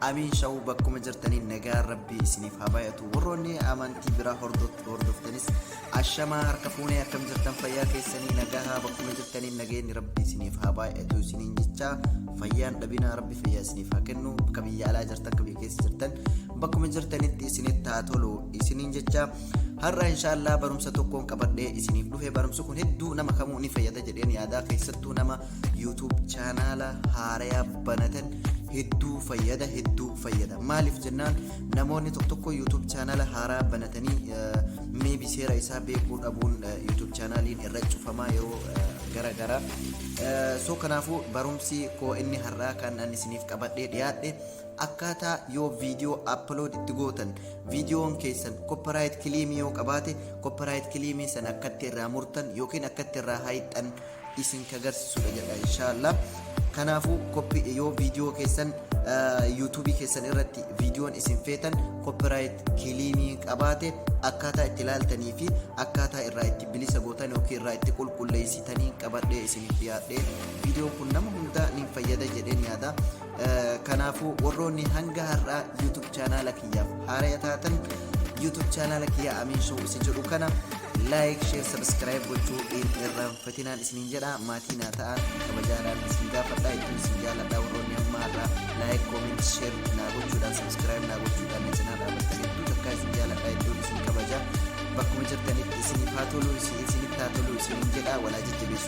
Amiin shawu bakkuma jirtaniin nagaan rabbii isiniif haa baay'atu warroonni amantii biraa hordoftanis ashamaa harka fuunee akkam jirtan fayyaa keessanii nagaa bakkuma jirtaniin nageenyi rabbii isiniif haa baay'atu isiniin jechaa fayyaan dhabinaa rabbi fayyaa isiniif haa kennu akka biyya alaa jirtan akka biyya keessa jirtan bakkuma jirtanitti isinitti haa tolu isiniin jechaa har'a inshaallah barumsa tokkoon qabadhee isiniif dhufe barumsi kun hedduu nama kamuu ni fayyada jedheen yaadaa keessattuu nama YouTube chaanaala haaraya banatan hedduu fayyada hedduu fayyada maaliif jennaan namoonni tokko tokko YouTube chaanaala haaraa banatanii meebi seera isaa beekuu dhabuun YouTube chaanaaliin irra cufamaa yeroo gara gara soo kanaafuu barumsi koo inni har'aa kan ani isiniif qabadhee dhiyaadhe akkaataa yoo viidiyoo upload itti gootan viidiyoon keessan copyright kileemii yoo qabaate copyright kileemii sana akkatti irraa murtan yookiin akkatti irraa haayxan isin ka garsisudha jedha inshallah kanaafu copy yoo video keessan YouTube keessan irratti viidiyoon isin feetan copyright kiliinii qabaate akkaataa itti ilaaltanii fi akkaataa irraa itti bilisa gootan yookiin irraa itti qulqulleessitanii qabadhee isiniif dhiyaadhee viidiyoon kun nama hundaa ni fayyada jedheen yaada Kanaafuu warroonni hanga har'aa YouTube chaanaala kiyyaaf haaraya taatan YouTube chaanaala kiyyaa Amiin Show isa jedhu kana like, share, subscribe gochuu hin irraanfatinaan isiniin jedha maatii naa ta'aa kabajaadhaan isin gaafadha ittiin isin jaaladha warroonni amma har'aa like, comment, share naa gochuudhaan subscribe naa gochuudhaan na cinaa dhaabattan hedduu takkaa isin jaaladha hedduun isin kabaja bakkuma jirtanitti isiniif haa tolu isinitti haa tolu isiniin jedha walaa jajjabeessu.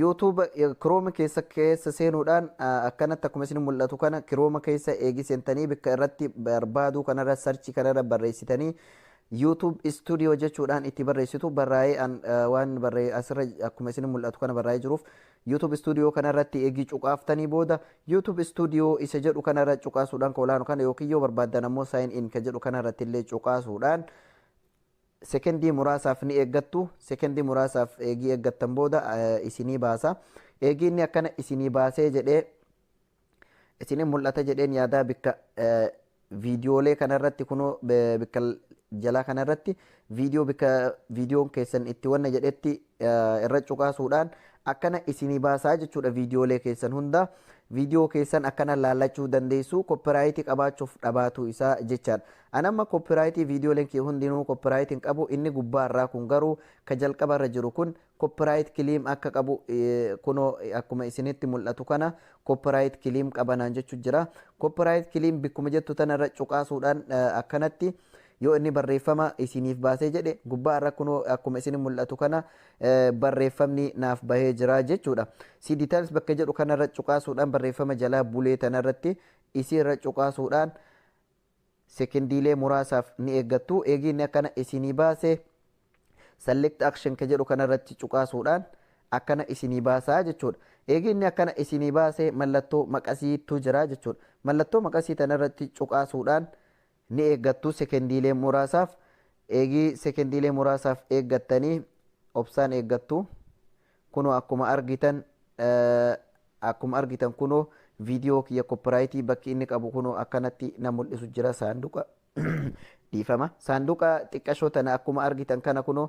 YouTube chrome keessa keessa seenuudhaan akkanatti akkuma isin mul'atu kana chrome keessa eegi seentanii bikka irratti barbaaduu kanarra search kanarra barreessitanii YouTube studio jechuudhaan itti barreessitu barraa'ee an waan barree asirra akkuma isin mul'atu kana barraa'ee jiruuf YouTube studio kanarratti eegi cuqaaftanii booda YouTube studio isa jedhu kanarra cuqaasuudhaan ka olaanu kana yookiin yoo barbaaddan ammoo sign in ka jedhu kanarratti illee cuqaasuudhaan Sekendii muraasaaf ni eeggattu. Sekendii muraasaaf eegii eeggattan booda isinii baasa. Eegii inni akkana isinii baasee jedhee isinin mul'ata jedheen yaadaa bikka viidiyoolee kanarratti kunoo bikka jalaa kanarratti viidiyoo bikka viidiyoon keessan itti wanna jedhetti irra cuqaasuudhaan akkana isinii baasaa jechuudha viidiyoolee keessan hunda viidiyoo keessan akkana laallachuu dandeessu koppiraayitii qabaachuuf dhabaatuu isaa jechaadha. An amma copyright videolen kee hundinuu copyright hin qabu inni gubbaa irraa kun garuu ka jalqaba irra jiru kun copyright claim akka qabu kunoo akkuma isinitti mul'atu kana copyright claim qaba naan jechu jira copyright claim bikkuma jettu tana irra cuqaasuudhaan akkanatti yoo inni barreeffama isiniif baasee jedhe gubbaa irra kunoo akkuma isin mul'atu kana barreeffamni naaf bahee jira jechuudha. Si details bakka jedhu kanarra cuqaasuudhaan barreeffama jalaa bulee tanarratti isiirra cuqaasuudhaan sekendiilee muraasaaf ni eeggattu. Eegii inni akkana isinii baase Select Action ka jedhu kana irratti cuqaasuudhaan akkana isinii baasa jechuudha. Eegii inni akkana isinii baase mallattoo maqasiitu jira jechuudha. Mallattoo maqasii tana irratti cuqaasuudhaan ni eeggattu sekendiilee muraasaaf. Eegii sekendiilee muraasaaf eeggattanii obsaan eeggattu. Kunoo akkuma argitan Akkuma argitan kunoo video kiyya copyright bakki inni qabu kunoo akkanatti na mul'isu jira saanduqa dhiifama saanduqa xiqqashoo tana akkuma argitan kana kunoo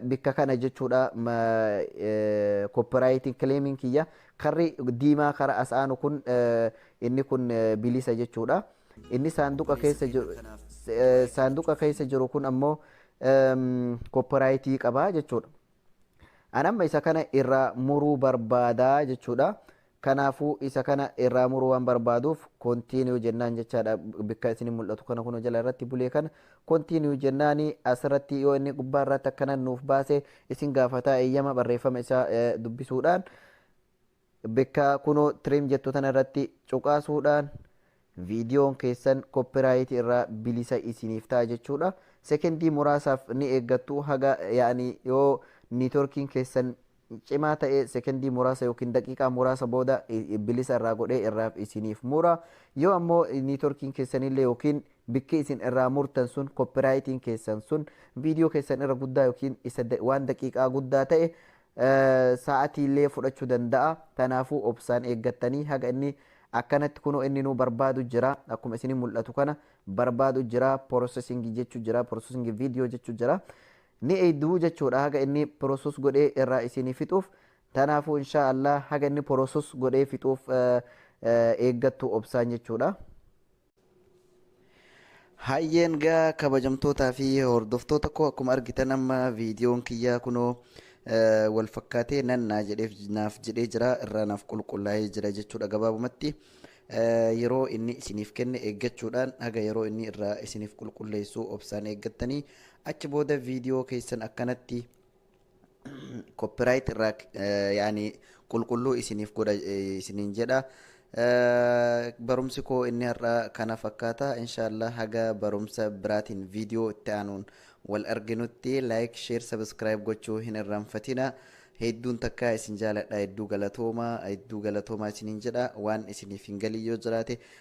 bikka kana jechuudha copyright claiming kiyya karri diimaa kara as aanu kun inni kun bilisa jechuudha inni saanduqa keessa jiru saanduqa keessa jiru kun ammoo copyright qaba jechuudha An amma isa kana irraa muruu barbaada jechuudha. Kanaafuu isa kana irraa muruu waan barbaaduuf continue jennaan jechaadha. Bikka isin mul'atu kana kunoo jala irratti bulee kana continue jennaan asirratti yoo inni gubbaa irratti akkana nuuf baase isin gaafataa eeyyama barreeffama isaa dubbisuudhaan. Bekka kuno trim jettu tana irratti cuqaasuudhaan viidiyoon keessan copyright irraa bilisa isiniif ta'a jechuudha. Sekendii muraasaaf ni eeggattu haga yaani yoo niitworkiin keessan cimaa ta'e sekendii muraasa yookiin daqiiqaa muraasa booda bilisa irraa godhee irraaf isiniif mura. Yoo ammoo niitworkiin keessanillee yookiin bikki isin irraa murtan sun copyrightiin keessan sun viidiyoo keessan irra guddaa yookiin isa waan daqiiqaa guddaa ta'e Sa'atiillee fudhachu danda'a. Tanaafuu obsaan eeggattanii haga inni akkanatti kunoo inninuu barbaadu jira. Akkuma isini mul'atu kana barbaadu jira. Processing jechu jira. Processing video jechu jira. Ni eeyduu jechuudha haga inni process godhee irraa isini fixuuf. Tanaafuu inshaa Allah haga inni process godhee fixuuf eeggattu obsaan jechuudha. Hayyeen gaa kabajamtootaa fi hordoftoota koo akkuma argitan amma viidiyoon kiyyaa kunoo eh, wal fakkaatee nan naa jedheef naaf jedhee jira irraa naaf qulqullaa'ee jira jechuudha gabaabumatti Eh, yeroo inni isiniif kenne eeggachuudhaan haga yeroo inni irraa isiniif qulqulleessu obsaan eeggattanii achi booda viidiyoo keessan akkanatti copyright irraa yaani qulqulluu isiniif godha isiniin jedha barumsi koo inni har'a kana fakkaata inshaallah haga barumsa biraatiin viidiyoo itti aanuun wal arginutti like share subscribe gochuu hin irraanfatina hedduun takka isin jaaladha hedduu galatooma hedduu galatooma isiniin jedha waan isiniif hin galii yoo jiraate